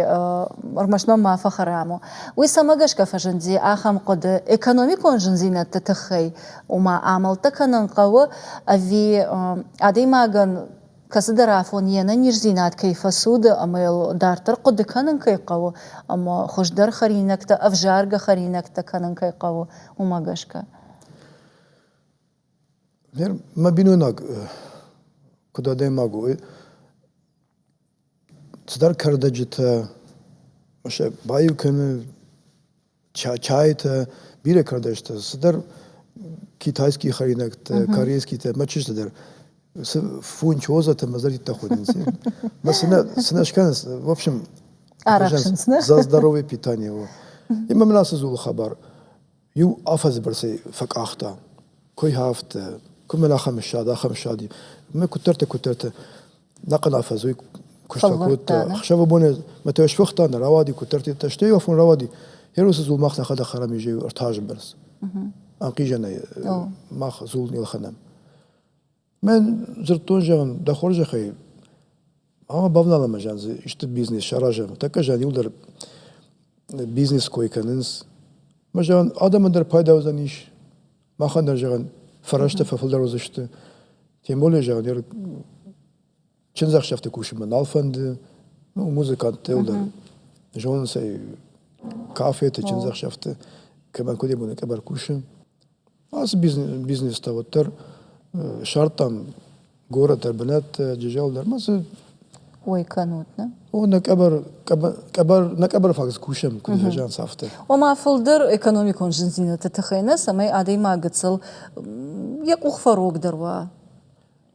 [SPEAKER 1] ӕрмӕст мӕ ма фӕхӕрам у. Уый цӕмӕ гӕсгӕ фӕзынди ахӕм хъуыды, экономикон зындзинӕдты тыххӕй, ома амӕлттӕ кӕнын хъӕуы, ӕви адӕймагӕн кӕцыдӕр афон йе нӕниздзинад кӕй фӕцуды ӕмӕ йыл дарддӕр хъуыды кӕнын кӕй хъӕуы ӕмӕ хуыздӕр хӕринӕгтӕ, ӕвзаргӕ хӕринӕгтӕ кӕнын кӕй хъӕуы, уымӕ гӕсгӕ. Гъер мӕ бинойнаг куыд адӕймаг у, цыдӕр кӕрдӕджытӕ сӕ баиу кӕны, чайытӕ, бирӕ кӕрдӕджытӕ, цыдӕр китайские хӕринӕгтӕ, корейскийтӕ, мӕ чызджытӕ дӕр цы фунчозӕтӕ мӕ зӕрдитӕ ходынц. Мӕ сынӕ сынӕ скӕнынц, в общем, за здоровье, питание его. Ӕмӕ мын ацы дзулы хабар Иу афӕдзы бӕрц ӕй фӕкъахта. Кой ха афтӕ, куы мӕн ахӕм ссад, ахӕм ссад и. Мӕ куыддӕртӕ, куыддӕртӕ нахъхъӕн афӕдз уый куыста кодта. Ӕхсӕвыбоны мӕ тӕ сфыхта, нӕ рауади, куыддӕртӕ. Стӕй иу афон рауади, гьеруыцы дзул мах нӕхӕдӕг хӕрӕм изӕй ӕртӕ азы бӕрц. Ӕнхъизӕнӕй мах дзул не лхӕнӕм. Мен дзырдтон, зӕгъын, дӕ хорзӕхӕй, ӕмӕ бавналӕм ӕз ӕн дзы исты бизнес саразӕм. Тӕккӕ зӕгъын, иуыл дӕр бизнес кой кӕнынц. Ӕмӕ зӕгъын, адӕмӕн дӕр пайда уыдзӕнис, махӕн дӕр, зӕгъын, фӕрӕзтӕ фӕфылдӕр уыдзысты. Тем более, зӕгъын, ӕр чындзӕхсӕвты кусынмӕ нал фӕнды, ну, музыканттӕ дӕр зонынц ӕй кафеты, чындзӕхсӕвты, кӕмӕн куыдебоны къӕбӕр кусы. Ацы бизнес та уӕддӕр сӕрттам город дӕр, бынӕттӕ, джызӕл дӕр, ма цы ой кӕнут, не? О, нӕ къӕбӕр, къӕбӕр, нӕ къӕбӕр фаг кусӕм, куыд фӕзӕнц афтӕ. Ома фылдӕр экономикон зындзинӕдты тыххӕй нӕ, цӕмӕй адӕймаг гыццыл йӕ къух фӕрогдӕр уа.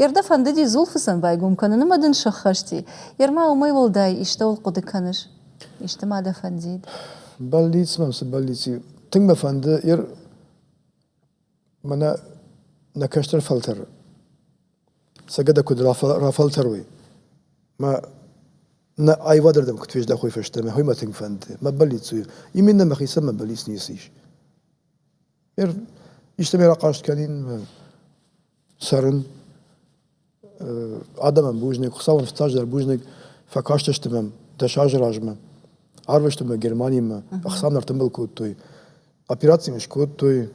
[SPEAKER 1] Йе рдӕ фӕндыди дзулфыцӕн байгом кӕнын ӕмӕ дын сӕххӕсти. Йе рмӕ уымӕй уӕлдай истӕуыл хъуыды кӕныс? Исты ма дӕ фӕндид? Бӕллиц мӕм цы бӕллиц и? Тынг мӕ фӕнды, йе р мӕнӕ нӕ кӕстӕр фӕлтӕры цӕгатӕ куыд рафӕлтӕрой. Мӕ нӕ аивады рдӕм куыд фездӕхой фӕстӕмӕ, уый мӕ тынг фӕнды. Мӕ бӕллиц у, именно мӕхицӕн мӕ бӕллиц ницы ис. Истӕмӕй рахъаст кӕнин цӕрын адӕмӕн бузныг, Хуыцауӕн фыццаджыдӕр бузныг, фӕкастысты мӕм дӕс азы размӕ. Арвыстой мӕ Германимӕ, ӕхцам нӕ ӕртымбыл кодтой, операци мын скодтой.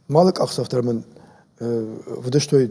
[SPEAKER 1] Малы къахдзӕф дӕр мын вдыстой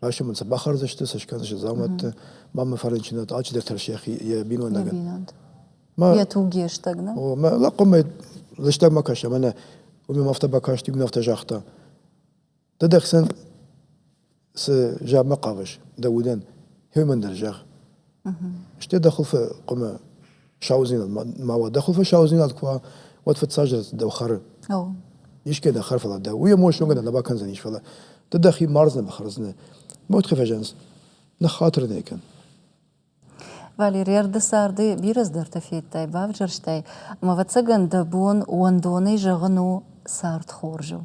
[SPEAKER 1] Асимон сӕ бахӕрдзысты, сӕ скӕндзысты дзаумӕтты. Ма мӕ фӕрынчынад алчидӕр тӕрс йӕхи йӕ бинойнагӕн. бинонт. Ма Йӕ туг йе стӕг нӕ? о, мӕ лӕхъхъомӕй лыстӕг ма кӕс, ӕмӕ нӕ уым ӕм афтӕ бакаст, иу мын афтӕ загъта. Ды дӕхсӕн цы заммӕ хъавыс, дӕ удӕн, хьюман дӕр зӕгъ. Стӕй дӕ хуылфы къуымы саудзинад ма уа. Дӕ хуылфы саудзинад куы уа, уӕд фыццаджыдӕр дӕу хӕры. Искӕй дӕ хӕр, фӕлӕ дӕ уый эмоционгӕ дӕ нӕ бакӕндзӕнис, фӕлӕ ды дӕхи мардзынӕ, бахӕрдзынӕ. Мӕт куы фӕзӕнс, ныххатыр нӕ кӕн. Валерий, ӕрды царды бирӕ цыдӕртӕ федтай, бавзӕрстай. Ӕмӕ, ӕвӕццӕгӕн, дӕ бон уӕндонӕй зӕгъын у цард хорзыл.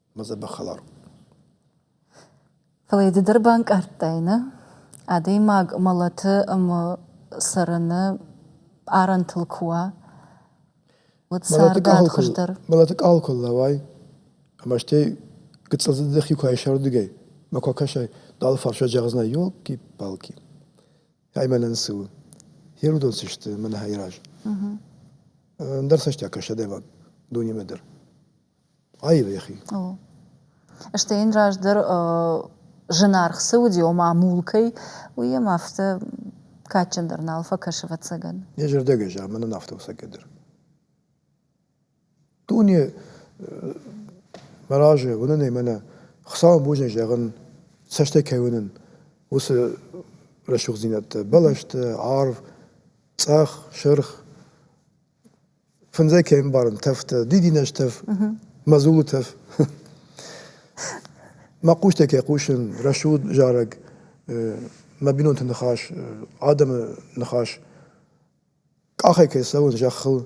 [SPEAKER 1] Фӕлӕ ды дӕр банкъардтай, нӕ? Адӕймаг мӕлӕты ӕмӕ цӕрыны арӕнтыл куы уа, уӕд царды ад хуыздӕр. Мӕлӕты къал куы лӕууай ӕмӕ стӕй гыццыл дзы дӕхи куы айсӕрдыгӕй ма куы акӕсай, ды алыфарсӕй зӕгъдзынӕ, ёлки-палки, ай мӕнӕн цы у, фер уыдон цы сты мӕнӕ айраз. Ӕндӕр цӕстӕй акӕс адӕймаг дунемӕ дӕр. Аивӕхи. О. Стӕй йын раздӕр зынаргъ цы уыди, ома мул кӕй, уый йӕм афтӕ кадджындӕр нал фӕкӕсы, ӕвӕццӕгӕн. Йӕ зӕрдиагӕй зӕгъӕм, мӕнӕн афтӕ у сӕкӕддӕр. Дуне мӕ разы уынын ӕмӕ нӕ Хуыцауӕн бузныг зӕгъын, цӕстӕй кӕй уынын, уыцы рӕсугъддзинӕдтӕ, бӕлӕсты, арв, цъӕх, сырх, Фындзӕй кӕй ӕмбарын тӕфтӕ, дидинӕж тӕф, мӕ дзулы тӕф. Мӕ хъустӕ кӕй хъусын, рӕсугъд зарӕг, мӕ бинонты ныхас, адӕмы ныхас, къахӕй кӕй цӕуын зӕххыл,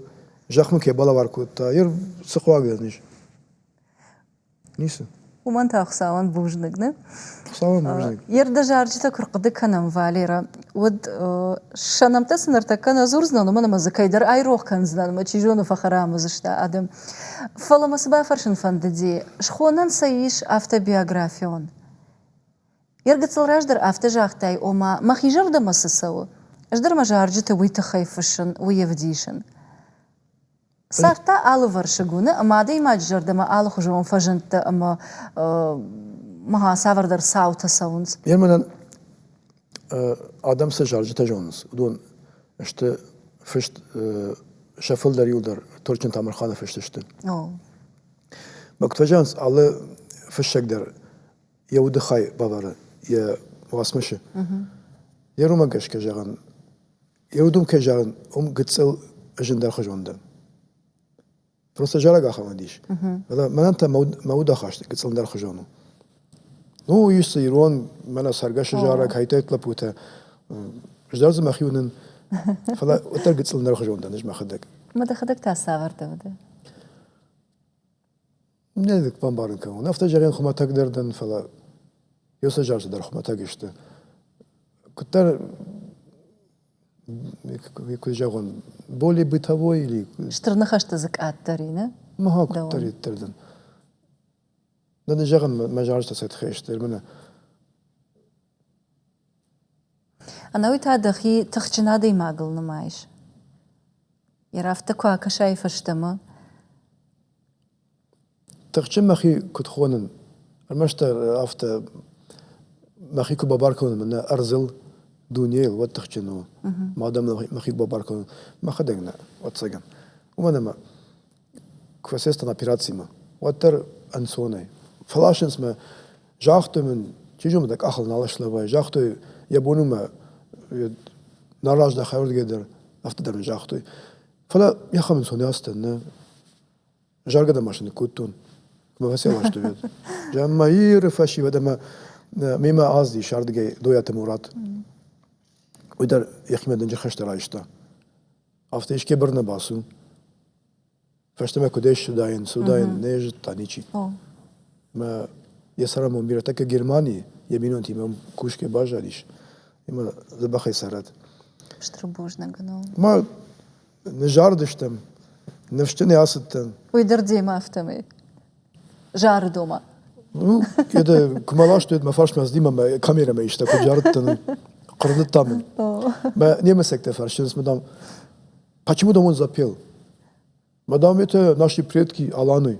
[SPEAKER 1] зӕхмӕ кӕй балӕвар кодта, йе рцыхъуаг ын ис. Ницы. Уымӕн та Хуыцауӕн бузныг, не? Хуыцауӕн бузныг. Йе рдӕзарджытӕ куы рхъуыды кӕнӕм, Валерӕ, уӕд сӕ нӕмттӕ цы ныртӕккӕ нӕ дзурдзынӕн, уымӕн ӕмӕ дзы кӕйдӕр айрох кӕндзынӕн ӕмӕ чи зоны фӕхӕрам уыдзысты адӕм. Фӕлӕ мӕ цы бафӕрсын фӕндыди, схонӕн сӕ ис автобиографион. Йе ргыцыл раздӕр афтӕ загътай, ома, мӕхи зӕрдӕмӕ цы цӕуы, ӕз дӕр мӕ зарджыты уый тыххӕй фыссын, уый ӕвдисын. Цард алывӕрсыг уыны ӕмӕ адӕймаджы зӕрдӕмӕ алыхуызон фӕзындтӕ ӕмӕ ма цавӕрдӕр цаутӕ цӕуынц. Йе мӕнӕн адӕм цы зарджытӕ зонынц, уыдон сты фыст сӕ фылдӕр иу дӕр Торчын Тамырханы фыст сты. Бӕгтвӕзӕнс алы фыссӕг дӕр йӕ удыхай бавӕры йӕ уацмысы. Йӕ роман гӕсгӕ зӕгъӕн Еудумке зарын, ум гыццыл зындӕрхуызон дӕн. Просто зараг ахӕмӕд ис. Фӕлӕ мӕнӕн та мӕ удахаст гыццылдӕрхуызон у. Ну, ис ирон, мӕнӕ цӕргӕсы зараг, хайтайт лӕппутӕ. Ӕз дӕр дзы мӕхи уынын. Фӕлӕ уӕддӕр гыццылдӕрхуызон дӕн, ӕз мӕхӕдӕг. Мӕ дӕхӕдӕг та цавӕртӕ уыд? Нӕ бамбарын кӕнон. Автозарӕн хуымӕтӕг дӕр дӕн, фӕлӕ ёсазарты дӕр хуымӕтӕг сты. Куыддӕр куыд зӕгъон, более бытовой или Стыр ныхӕсты дзы къаддӕр и, нӕ? Ма куыддӕриддӕр дӕн. Нӕ нын зӕгъын мӕ зӕрдӕ тыххӕй сты, мӕнӕ ӕнӕуи та дӕхи тыхджын адӕймагыл нымайыс йӕ рафтӕ куы акӕсай фӕстӕмӕ тыхджын мӕхи куыд хонын ӕрмӕстдӕр афтӕ мӕхи куы бабар кӕнон мӕнӕ ӕрдзыл дунейыл уӕд тыхджын у мадӕн мӕхи бабар кӕнон мӕхӕдӕг нӕ ӕвӕццӕгӕн уымӕн ӕмӕ куы фӕсестӕн операцимӕ, уӕддӕр ӕнцонӕй. Фӕласынц мӕ, загътой мын, чи зоны дӕ къахыл нал слӕвай, загътой, йӕ бон у мӕ нараздӕ хӕрдгӕ дӕр, афтӕ дӕр мын загътой. Фӕлӕ мехам ӕнцон не ацыдтӕн, нӕ заргӕ дӕр машинӕ кодтон, куы мӕ фӕсевӕрстой уӕд. Мӕ Иры фӕсивӕд ӕмӕ мемӕ аз ис ардыгӕй Дойаты Мурат. Уый дӕр йӕхимӕ дынджыр хӕстӕ райста. Афтӕ искӕй быр нӕ бацу. Фӕстӕмӕ куыдӕй ссыдаин, цудаин, нӕ зыдта ничи. Мӕ йӕ сӕрамон бирӕтӕ кӕ Германийы, йӕ бинонтимӕ кусгӕ баззадис. Ӕмӕ дзӕбӕхӕй цӕрӕд. Стыр бузныг ныл. Ма ныззарыдыстӕм, ныфсджын ӕ ацыдтӕн. Уый дӕр демӕ афтӕмӕй? Жары дома. Ну, уӕдӕ куы мӕ ластой, уӕд мӕ фарсмӕ ацыди мӕ камерӕмӕ иста, куыд зарыдтӕн, хъырдыдтам мын. Мӕ немецӕгтӕ фӕрсынц, мадам, почему домой он запел? Мадам, это наши предки Аланы.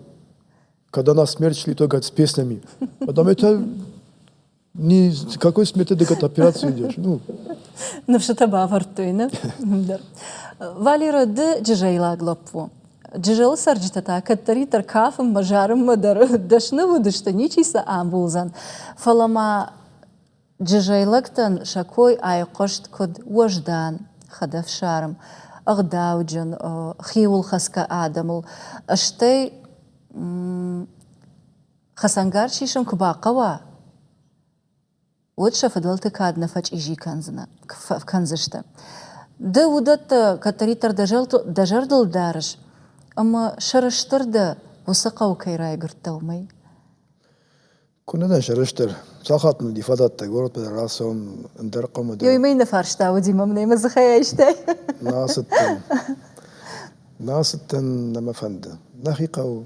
[SPEAKER 1] Когда нас смерть шли только с песнями. Мадам, это Не, с какой методикой ты операции идешь? Ну... Ныфсытӕ бавӕрдтой, ne? дӕр. Валера, ды джызӕйлаг лӕппу. Джызӕлы цӕрджытӕ та кӕддӕриддӕр кафынмӕ, зарынмӕ дӕр дӕсны уыдысты, ничи сӕ амбулдзӕн. Фӕлӕ ма джызӕйлӕгтӕн сӕ кой айхъуыст куыд уӕздан хӕдӕфсарм, ӕгъдауджын, хиуылхӕцгӕ адӕмыл, стӕй Хӕцӕнгарз сисын куы бахъӕуа, уӕд сӕ фыдӕлты кад нӕ фӕчъизи кӕндзынӕ, кӕндзысты. Ды уыдӕттӕ кӕддӕриддӕр дӕ зӕрдыл дарыс, ӕмӕ сӕрыстыр дӕ, уыцы хъӕу кӕй райгуырдтӕ, уымӕй? Куы нӕ дӕн сӕрыстыр. Сахат нын уыди фӕдӕттӕг горӕтмӕ дӕр рацӕуын, ӕндӕр хъӕумӕ дӕр. Ёй, мӕй нӕ фарста уыди, мӕм нӕ мӕ дзыхӕй айстай? Нӕ ацыдтӕн. Нӕ ацыдтӕн, нӕ мӕ фӕнды. Нӕхи хъӕу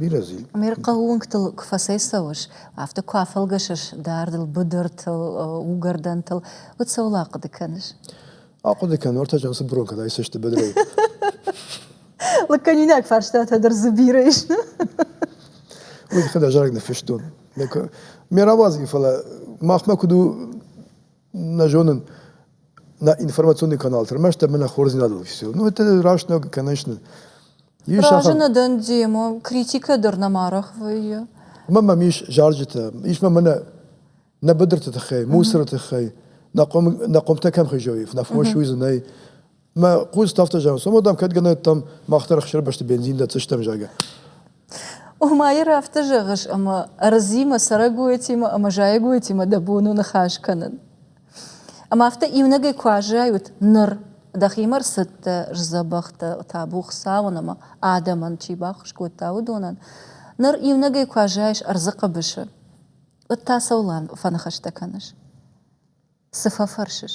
[SPEAKER 1] Бирӕ зил. Ме рхъӕууынгтыл куы фӕцӕйцӕуыс, афтӕ куы афӕлгӕсыс дардыл, быдыртыл, уыгӕрдӕнтыл, уӕд цӕуыл ахъуыды кӕныс? Ахъуыды кӕнын, ортӕ чан цыбырон кӕд айсысты быдырӕй. Лӕггӕнинаг фарстатӕ дӕр дзы бирӕ ис. Уый тыххӕй ӕз зарӕг нӕ фыстон. Ме рауадзын, фӕлӕ махмӕ куыд у нӕ зонын нӕ информационный канал тырмӕст ӕмӕ нӕ хорздзинадыл официал. Ну, это раст ног, конечно. Разы нӕ дӕн демон, критикӕ дӕр нӕма рахвайы. Ма мӕм ис зарджытӕ, ис ма мӕнӕ нӕ быдырты тыххӕй, мусоры тыххӕй, нӕ хъом нӕ хъомтӕ кӕм хизой, нӕ фос уидзынӕй, Мӕ хъус афтӕ зӕгъын, цомӕ дам кӕд гӕнӕттӕм мах дӕр хсӕрбӕсты бензин дӕтдзыстӕм, зӕгъгӕ. Омайыр афтӕ зӕгъыс, ӕмӕ ӕрдзимӕ, цӕрӕгойтимӕ ӕмӕ зайӕгойтимӕ дӕ бон у ныхас кӕнын. Ӕмӕ афтӕ иунӕгӕй куы аззайут ныр, дӕхимӕ рцыдтӕ сдзӕбӕхтӕ, табу Хуыцауӕн ӕмӕ адӕмӕн чи баххуыс кодта, уыдонӕн. Ныр иунӕгӕй куы аззайыс ӕрдзы хъӕбысы, уӕд та цӕуыл фӕныхӕстӕ кӕныс? Цы фӕфӕрсыс?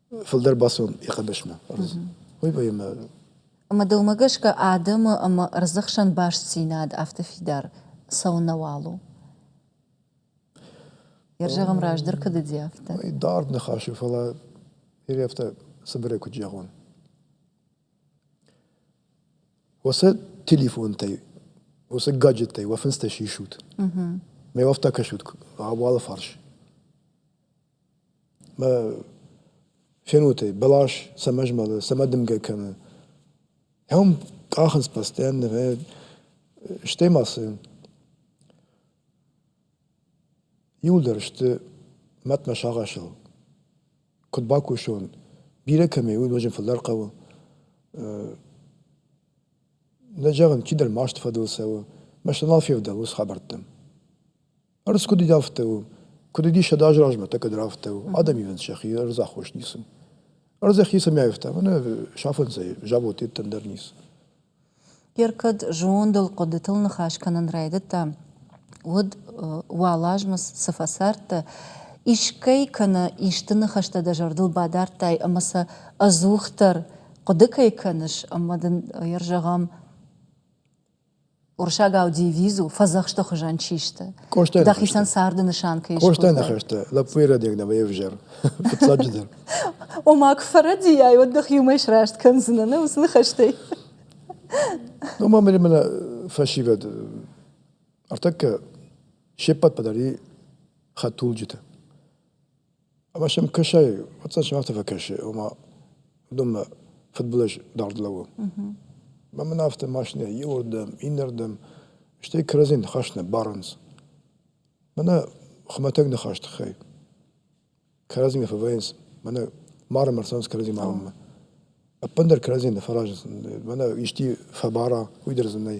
[SPEAKER 1] фылдӕр бацӕуын йӕ хъӕбысмӕ ӕрдз. Уый поэмӕ Ӕмӕ дӕумӕ гӕсгӕ адӕмы ӕмӕ ӕрдзы хсӕн бастдзинад афтӕ фидар цӕуынӕуал у? Йӕ зӕгъӕм раздӕр куыд уыди афтӕ? Дард ныхас у, фӕлӕ бирӕ афтӕ цыбырӕй куыд зӕгъон. Уыцы телефонтӕй, уыцы гаджеттӕй уӕ фындзтӕ сисут. Мӕ уафтӕ кӕсут ӕбуалы фарс. фенотӕй бӕлас цӕмӕ змӕлы, цӕмӕ дымгӕ кӕны. Ам къахынц постоянно, стӕй ма цы иуылдӕр сты мӕтмӕ сагъӕсыл. Куыд бакусон, бирӕ кӕмӕй у, ноджы фылдӕр хъӕуы. Нӕ зӕгъын, кӕддӕр масты фӕдыл цӕуы. Мӕстӕ нал февдӕлынц хабӕрттӕм. Ӕрдз куыд уыд, афтӕ у. Куыд уыдис сӕдӕ азы размӕ, так ӕддӕр афтӕ у. Адӕмивӕнд сӕхи ӕрдзаххос ницы. Ӕрдзӕх ницы мӕйфта, мӕнӕ сафынцӕй завод йеддӕм дӕр ницы. Гер кӕд зондыл, хъуыдытыл ныхас кӕнын райдыдта, уӕд уӕлазмы цы фӕцардтӕ, искӕй кӕнӕ исты ныхӕстӕ дӕ зӕрдыл бадардтай ӕмӕ сӕ ӕдзухдӕр хъуыды кӕй кӕныс, ӕмӕ дын ӕй зӕгъӕм, Урсӕгау дивиз у, фӕдзӕхсты хуызӕн чи сты. Къоста Дӕхицӕн царды нысан кӕй Къоста ныхӕстӕ, лӕппуйы рӕдег дӕ вӕйӕвзӕр, фыццаджыдӕр. Ома, куы фӕрӕдийай, уӕд дӕх иумӕ сраст кӕндзынӕ, нӕ уыцы ныхӕстӕй? Ома мӕ мӕнӕ фӕсивӕд ӕртӕккӕ се ппӕт пӕдӕр и хӕдтулджыты. Ӕмӕ сӕм кӕсай, фӕцӕс афтӕ фӕкӕсы, ома уыдонмӕ фыдбылыз дард лӕууы. Ӕмӕ мын афтӕ машинӕ иуырдӕм, иннӕрдӕм, стӕй кӕрӕдзийы ныхӕстӕ барынц. Мӕнӕ хуымӕтӕг ныхас тыххӕй. Кӕрӕдзимӕ фӕвӕййынц, мӕнӕ марӕм ӕрцӕуынц кӕрӕдзимӕ амынмӕ. Ӕппындӕр кӕрӕдзийӕ ныфӕразынц, мӕнӕ исчи фӕбара, уый дӕр дзы нӕй.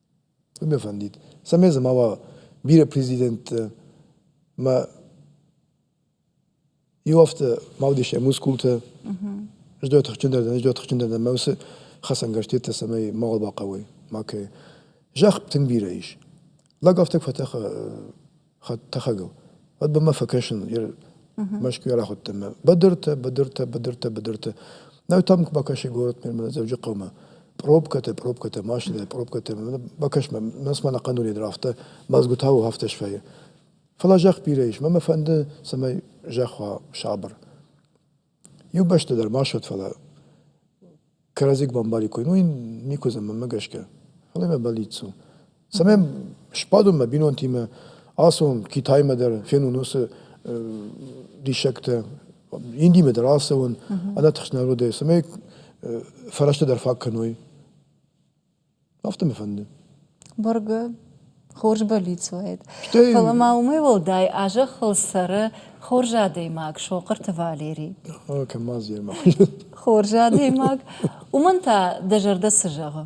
[SPEAKER 1] Тынг нӕ фӕндид, цӕмӕй дзы ма уа бирӕ президенттӕ. Мӕ иу ӕфты ма уыдис йӕ мускултӕ. Ӕз дӕр тыхджындӕр дӕн, ӕз дӕр тыхджындӕр дӕн, мӕ уыцы хӕцӕнгӕрзтӕ, цӕмӕй мауал бахъӕуой макӕй. Зӕхх тынг бирӕ ис. Лӕг афтӕ куы фӕтӕха хӕдтӕхӕгыл. Уӕд бамӕ фӕкӕсын Мӕскуыйӕ рахуыдтӕн мӕ быдыртӕ, быдыртӕ, быдыртӕ, быдыртӕ. Нӕ там бакӕси город мӕ Дзӕуджыхъӕумӕ. Пробкӕтӕ, пробкӕтӕ, машинӕтӕ, пробкӕтӕ. Бакӕс-ма, нас мӕнӕ хъанурейдр афтӕ, мӕзгуытау афтӕ сфӕйы. Фӕлӕ зӕхх бирӕ ис, мӕ мӕ фӕнды, цӕмӕй зӕхх уа сабыр. Еу бӕстӕ дӕр ма ссуд, фалӕ кӕрӕдзик бамбари кой, уой никуз ӕмӕмӕ гӕсгӕ. Фал имӕ бӕллиццо. Цӕмӕй сбадон мӕ бинонтимӕ, ацон Китаймӕ дӕр, фенон уоци диссӕгтӕ, Индимӕ дӕр ацӕуон, ӕнӕтыхст народӕй, цӕмӕй фӕрӕзтӕ дӕр фӕккӕной. Афтӕ мӕ фӕнды. Бӕргӕ хорз бӕллиц уаид. Стӕй... Фӕлӕ ма уымӕй уӕлдай а зӕххыл цӕры хорз адӕймаг Сохъырты Валери. Кӕм ма зӕрмӕ. Хорз адӕймаг. Уымӕн та дӕ зӕрдӕ цы зӕгъы?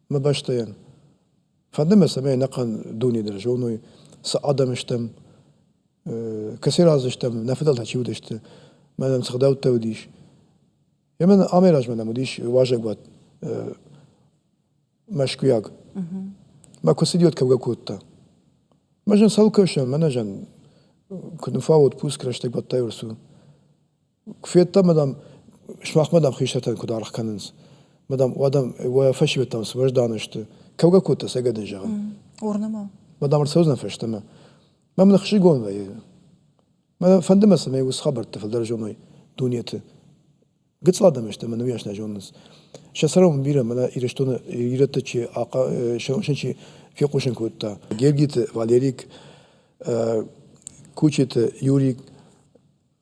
[SPEAKER 1] мӕ бӕстӕйӕн. Фӕнды мӕ, цӕмӕй ӕнӕхъӕн дуне дӕр зоной, цы адӕм стӕм, кӕцӕй разы стӕм, нӕ фыдӕлтӕ чи уыдысты, мӕнӕн цы гъдӕуттӕ уыдис. Емӕ амӕй размӕ нӕм уыдис уазӕгуат мӕскуыйаг. Мӕ куы цыд уӕд кӕугӕ кодта. Мӕ зӕн цӕуыл кӕсӕм, мӕнӕ зӕн, куыд нуфауӕд пуск рӕстӕг бадтӕй урсу. Куы федтам, мадам, сымахмӕ, дам, хистӕртӕ куыд аргъ кӕнынц, мадам, уӕдӕм уӕ фӕсивӕдтӕм сбӕздӕны сты. Кӕугӕ кодта сӕ гӕдын зӕгъын. Уырнӕм. Мадам, ӕрцӕудзӕн фӕстӕмӕ. Мӕм ныхсызгон вӕййы. Мӕ фӕнды мӕ, цӕмӕй уыцы хабӕртты фылдӕр зоной дунеты. Гыццыл адӕм сты ӕмӕ нымйас нӕ зонынц. Сӕ цӕрӕнбон бирӕ мӕнӕ Ирыстоны ирӕтты чи чи фехъусын кодта. Гергиты Валерик, Кучиты Юрик,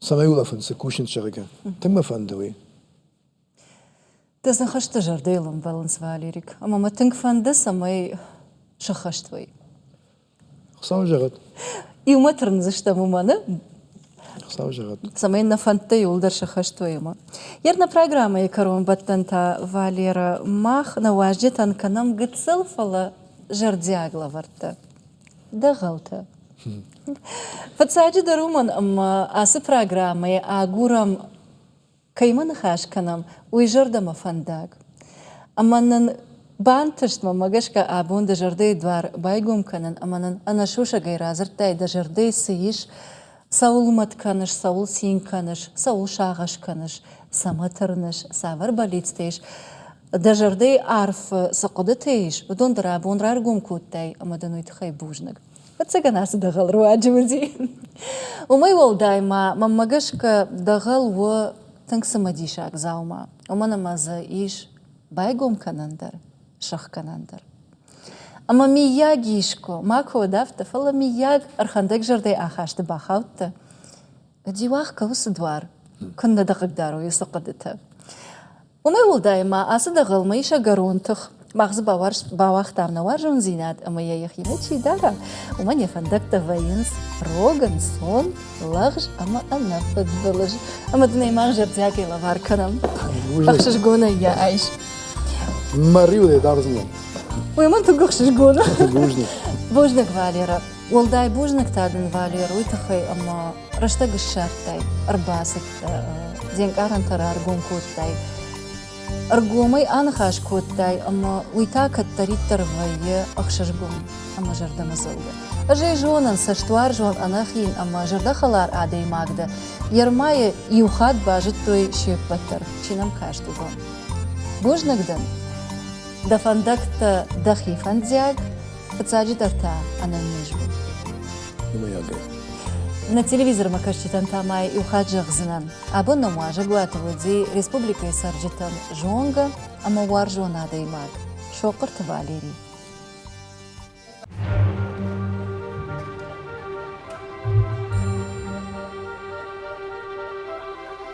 [SPEAKER 1] цӕмӕй улӕфын, цы кусынц, зӕгъгӕ. Тынг мӕ фӕнды уый. Дӕ ныхӕстӕ зӕрдӕйыл ӕмбӕлынц, Валерик. Ӕмӕ мӕ тынг фӕнды, цӕмӕй сыххӕст уай. Хуыцау зӕгъӕд. Иумӕ тырндзыстӕм уымӕн, Хуыцау зӕгъӕд. цӕмӕй нӕ фӕндтӕ иуылдӕр сыххӕст уой ӕмӕ. Ерна программӕйы кӕронбӕттӕн та, Валерӕ, мах нӕ уазджытӕн кӕнӕм гыццыл, фӕлӕ зӕрдиаг лӕвӕрттӕ. Дӕгъӕлтӕ. Фыццаджыдӕр уымӕн, ӕмӕ ацы программӕйы агурӕм, кӕимӕ ныхас кӕнӕм, уый зӕрдӕмӕ фӕндаг. Ӕмӕ нын бантыст, мӕмӕ гӕсгӕ, абон дӕ зӕрдӕйы дуар байгом кӕнын ӕмӕ нын ӕнӕсусӕгӕй радзырдтай, дӕ зӕрдӕйы цы ис, Цӕуыл мӕт кӕныс, цӕуыл цин кӕныс, цӕуыл сагъӕс кӕныс, цӕмӕ тырныс, цавӕр бӕллицтӕ ис, дӕ зӕрдӕйы арфы цы хъуыдытӕ ис, уыдон дын рабон раргом кодтай ӕмӕ дын уый тыххӕй бузныг. Ӕвӕццӕгӕн ацы дӕгъӕл руаджы уыди. Уымӕй уӕлдай ма мӕнмӕ гӕсгӕ дӕгъӕл у тынг цымыдисаг дзаума, уымӕн ӕмӕ дзы ис байгом кӕнӕн дӕр. сӕхгӕнӕн дӕр. Ӕмӕ миййаг искуы макуы уыд афтӕ, фӕлӕ миййаг ӕрхӕндӕг зӕрдӕйы ахасты бахаудтӕ. Диуах кӕуы цы дуар, куыннӕ дӕ хъыгдарой уыцы хъуыдытӕ. Уымӕй уӕлдай ма ацы дӕгъӕлмӕ ис ӕгӕрон тых. Мах дзы бауагътам нӕ уарзондзинад ӕмӕ йӕ йӕхимӕ чи дара, уымӕн йӕ фӕндӕгтӕ вӕййынц рог, ӕнцон. лӕгъз ӕмӕ ӕнӕфыд былыз ӕмӕ дын ӕй мах зӕрдиагӕй лӕвар кӕнӕм. ӕхсызгонӕй йӕ айс. Мӕ риуӕй дӕр зынон. Уый мын тынг ӕхсызгон у. Бузныг. Бузныг, Валера. Уӕлдай бузныг та дын, Валер, уый тыххӕй, ӕмӕ рӕстӕг ссардтай, ӕрбацыд, де нкъарӕнтӕ раргом кодтай. Ӕргомӕй аныхас кодтай, ӕмӕ уый та кӕддӕриддӕр вӕййы ӕхсызгон ӕмӕ зӕрдӕмӕдзӕугӕ. Ӕз ӕй зонын, цӕстуарзон, ӕнӕхин ӕмӕ зӕрдӕхӕлар адӕймаг дӕ. Ермайы иу хатт базыдтой се ппӕт дӕр, чи нӕм каст, уыдон. Бузныг дӕн. Дӕ фӕндӕгтӕ дӕхи фӕндиаг, Фыццаджыдӕр та ӕнӕнниз у. На телевизормӕ кӕсджытӕн та ма иу хатт зӕгъдзынӕн, абон нӕм уазӕгуаты уыди республикӕйы цӕрджытӕн зонгӕ ӕмӕ уарзон адӕймаг Сохъырты Валери.